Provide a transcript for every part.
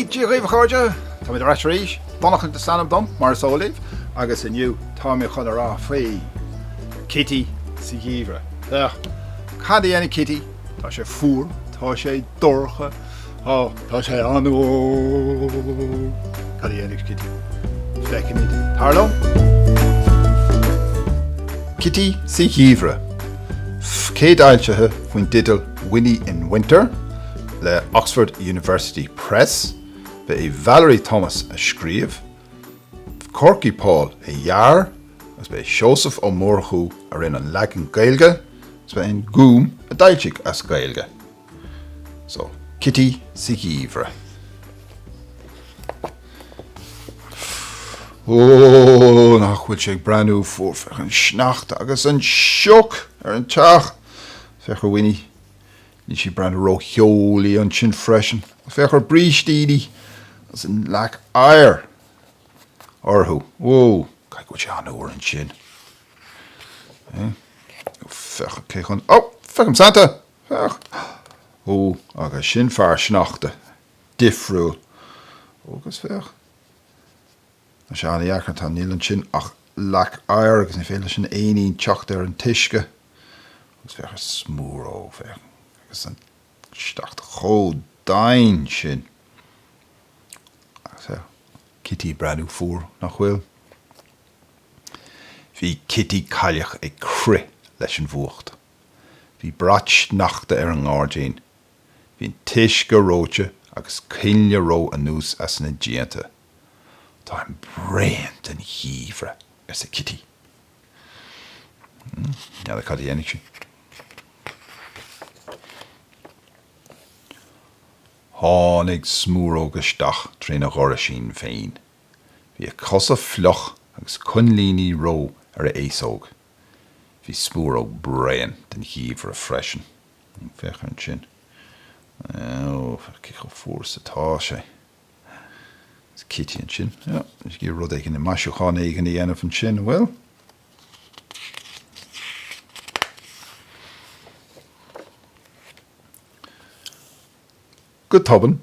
Dia dhaoibh a chairde, tá mé ar ais arís, Donnchadh is ainm dom mar is eol daoibh agus inniu tá mé chun a rá faoi Kitty sa Gheimhreadh. Cad a dhéanann Kitty Tá sé fuar, tá sé dorcha, tá. Tá sé an-fhuar. Cad a dhéanfaidh Kitty? Feicfimid. Tar liom! Kitty sa Gheimhreadh, céadfhoilsithe faoin teideal Winnie in Winter le Oxford University Press, ba é Valerie Thomas a scríobh, Korky Paul a dhear agus ba é Seosamh Ó Murchú a rinne an leagan Gaeilge agus ba é an Gúm a d'fhoilsigh as Gaeilge. So, Kitty sa gheimhreadh. Ooh, nach bhfuil sé ag breathnú fuar, féach an sneachta agus an sioc ar an teach. Féach ar Winnie, Níl sí ag breathnú rótheolaí ansin freisin. Féach ar a brístíní agus an leac oighir orthu. Whoa, caithfidh go bhfuil sé an-fhuar ansin. Féach cé chun, oh, feicim Santa! Féach! Oh, agus sin fear sneachta, difriúil. Oh, agus féach. Tá sé an-dheacair, tá, níl ansin ach leac oighir agus ní féidir leis an éinín teacht ar an t-uisce. Agus féach ar Smúróg, féach, agus an sneachta chomh domhain sin. Agus féach, Kitty ag breathnú fuar, nach bhfuil? Bhí Kitty Cailleach ag crith leis an bhfuacht. Bhí brat sneachta ar an ngairdín. Bhí an t-uisce reoite agus coinnle reo anuas as na díonta. Táim bréan den gheimhreadh, arsa Kitty. N'fheadar cad a dhéanfaidh sí. Tháinig Smúróg isteach trína dhoraisín féin. Bhí a chosa fliuch agus coinlíní reo ar a fhéasóg. Bhí Smúróg bréan den gheimhreadh freisin. Féach ansin. Ó, féach cé chomh fuar is atá sé. Is Kitty ansin. Ja, is ag rud éigin maisiúchán éigin a dhéanamh ansin, an bhfuil? Go tobann,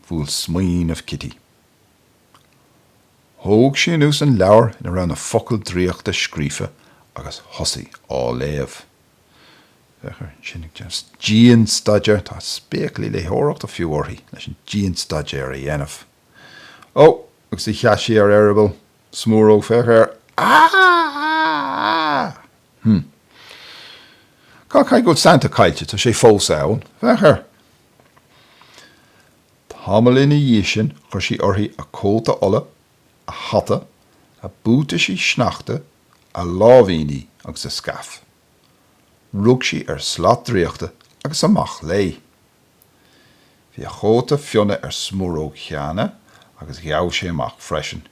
bhuail smaoineamh Kitty. Thóg sí anuas an leabhar ina raibh na focail draíochta scríofa agus thosaigh á léamh. Féach air ansin ag déanamh dianstaidéir, tá spéaclaí léitheoireachta fiú uirthi, leis an dianstaidéar a dhéanamh. Ó, agus a sheas sí ar eireaball smúróg, féach air! Aaaaaaaaa! Hm. Hm caithfidh go bhfuil Santa caillte? Tá sé fós ann. Féach air! Tamall ina dhiaidh sin chuir sí uirthi a cóta olla a hata, a buataisí sneachta, a láimhíní agus a scaif. Rug sí ar shlat draíochta agus amach léi. Bhí a chóta fionnaidh ar Smúróg cheana agus ghabh sé amach freisin.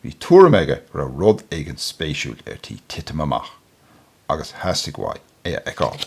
Bhí tuairim aige go raibh rud éigin spéisiúil ar tí titim amach agus theastaigh uaidh é a fheiceáil.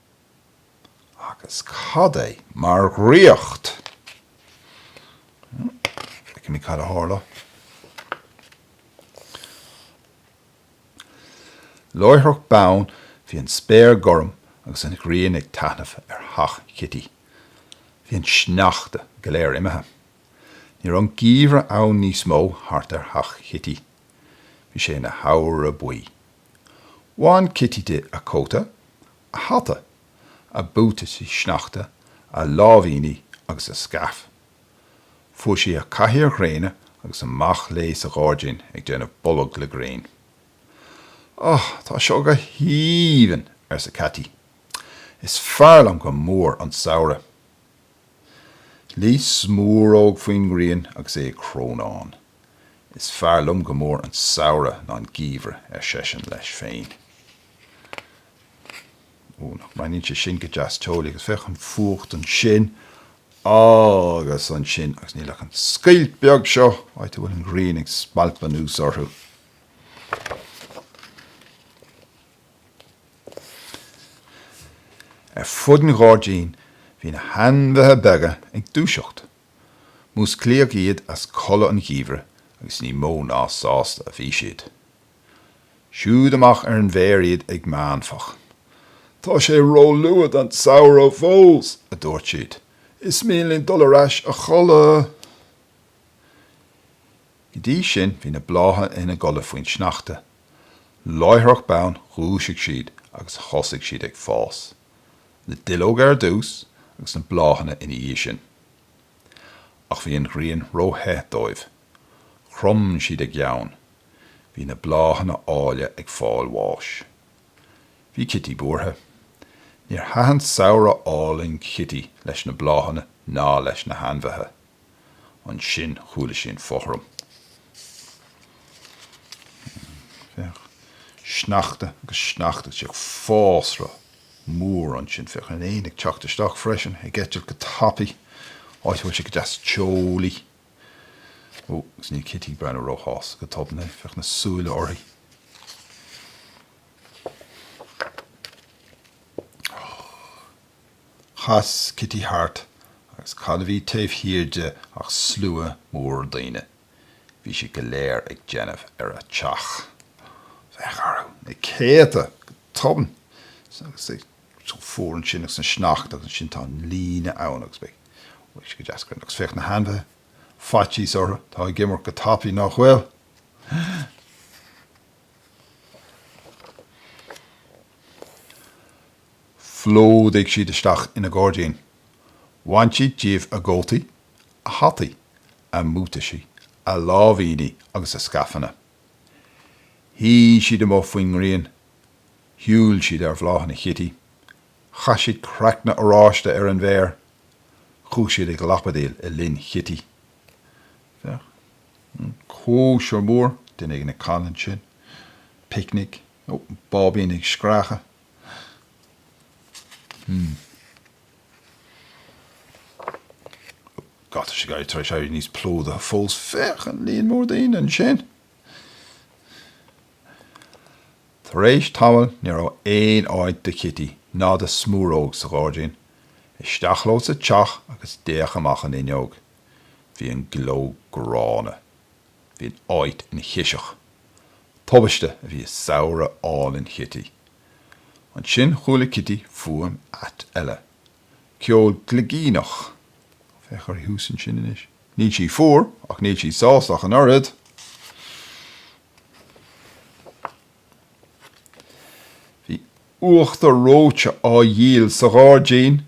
Agus cad é mar dhraíocht! Feicimid cad a tharla. Láithreach bonn bhí an spéir gorm agus an ghrian ag taithneamh ar theach Chití. Bhí an sneachta go léir imithe. Ní raibh an geimhreadh ann níos mó thart ar theach Chití. Bhí sé ina shamhradh buí. Bhain Cití di a cóta, a hata, a buataisí sneachta, a láimhíní agus a scaif. Fuair sí a cathaoir ghréine agus amach léi sa ghairdín ag déanamh bolg le gréin. Á, tá seo go haoibhinn, arsa Cití. Is fearr liom go mór an samhradh. Luigh Smúróg faoin ngrian agus é ag crónán. Is fearr liom go mór an samhradh ná an geimhreadh, ar seisean leis féin. Ó, nach mbreathnaíonn sé sin go deas teolaí, agus féach an fuacht ansin agus ansin, agus níl ach an scoilt bheag seo, áit a bhfuil an ghrian ag spalpadh anuas orthu. Ar fud an ghairdín bhí na hainmhithe beaga ag dúiseacht, Músclaíodh iad as codladh an gheimhridh agus ní mó ná sásta a bhí siad. Siúd amach ar an bhféar iad ag meánfach. Tá sé róluath don samhradh fós! a dúirt siad. Is mian linn dul ar ais a chodladh! Go dtí sin bhí na blátha ina gcodladh faoin sneachta. Láithreach bonn dhúisigh siad agus thosaigh siad ag fás. Na duilleoga ar dtús agus na bláthanna ina dhiaidh sin. Ach bhí an ghrian ró-the dóibh. Chrom siad a gceann. Bhí na bláthanna áille ag fáil bháis. Bhí Cití buartha. Níor thaitin samhradh álainn Chití leis na bláthanna ná leis na hainmhithe. Ansin chuala sí an fothram. Féach. Sneachta agus sneachta féach fásra mór ansin. Féach an éan ag teacht isteach freisin, ag eitilt go tapaidh. Áit a bhfuil sé go deas teolaí. Ó, agus níl Cití ag breathnú róshásta go tobann é. Féach na súile uirthi. Chas Cití thart agus cad a bhí taobh thiar di ach slua mór daoine. Bhí siad go léir ag déanamh ar a teach. Féach orthu, na céadta, go tobann. Agus é chomh fuar ansin agus an sneachta agus ansin tá an líne ann agus beidh, bhfuil sé go deas grinn. Agus féach na hainmhithe, faitíos orthu, tá ag imeacht go tapaidh, nach bhfuil? Phlódaigh siad isteach ina gairdín. Bhain siad díobh a gcótaí, a hataí, a mbuataisí, a láimhíní agus a scaifeanna. Shuigh siad amuigh faoin ngrian. Shiúil siad ar bhláthanna Chití. Chaith siad craicne oráiste ar an bhféar. Chuaigh siad ag lapadaíl i linn Chití. Féach, cóisir mhór, duine éigin ag canadh ansin. Picnic. Ó, báibín ag screachadh. Hmm. God, tá sé ag éirí tar éis éirí níos plódaithe fós. Féach an líon mór daoine ansin. Tar éis tamaill ní raibh aon áit do Chití ná do Smúróg sa ghairdín. Isteach leo sa teach agus d'fhéach amach an fhuinneog. Bhí an gleo gránna. Bhí an áit ina chiseach. Tubaiste a bhí i samhradh álainn Chití. Ansin chuala Cití fuaim ait eile. Ceol gligíneach. Féach uirthi thuas ansin anois. Níl sí fuar, ach níl sí sásta ach an oiread. Bhí uachtar reoite á dhíol sa ghairdín!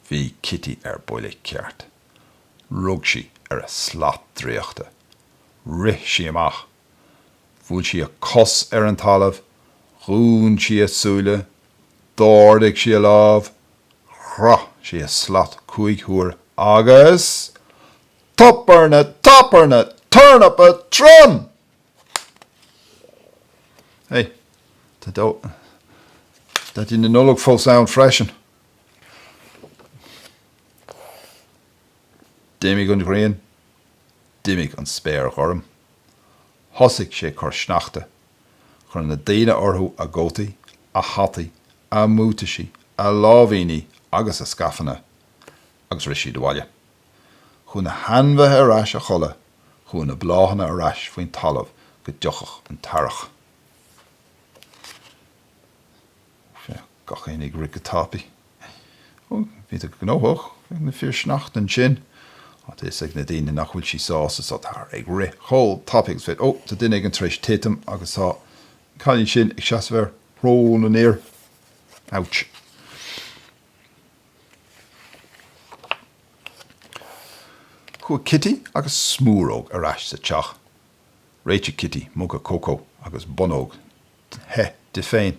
Bhí Cití ar buile ceart. Rug sí ar a slat draíochta. Rith sí amach. Bhuail sí a cos ar an talamh, dhún sí a súile, d'ardaigh sí a lámh, chroith sí a slat cúig huair agus Tuppernatabernaturnapatron! Hey, tá Daidí na Nollag fós ann freisin! D'imigh an ghrian. D'imigh an spéir ghorm. Thosaigh sé ag cur sneachta. Chuir na daoine orthu a gcótaí, a hataí, a mbuataisí, a láimhíní agus a scaifeanna agus rith siad abhaile. Chuaigh na hainmhithe ar ais a chodladh. Chuaigh na bláthanna ar ais faoin talamh go dtiocfadh an t-earrach. Gach éinne ag rith go tapaidh. Ó, bhí sé gnóthach ag na fir sneachta ansin. Á, tá a fhios ag na daoine nach bhfuil sí sásta so táthar ag rith chomh tapaidh agus is féidir. Ó, tá duine éigin tar éis titim agus tá an cailín sin ag seasamh ar shrón an fhir. Ouch. Chuaigh Kitty agus Smúróg ar ais sa teach. Réitigh Kitty muga cócó agus bonnóg the di féin.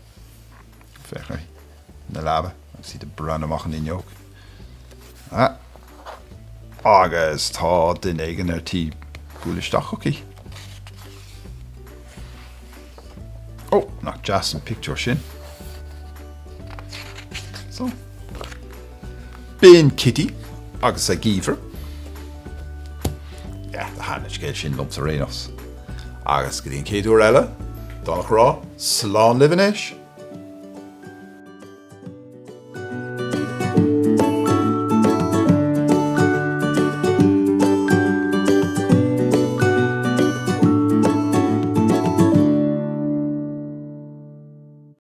Féach ar an leaba agus iad ag breathnú amach an fhuinneog. Ah! Agus tá duine éigin ar tí bualadh isteach chuici. Ó! Nach deas an pictiúr sin? So. Bíonn Kitty agus an Geimhreadh. Yeah, do thaitn an scéal sin liomsa anois. Agus go dtí an chéad uair eile, níl ann ach a rá, slán libh anois!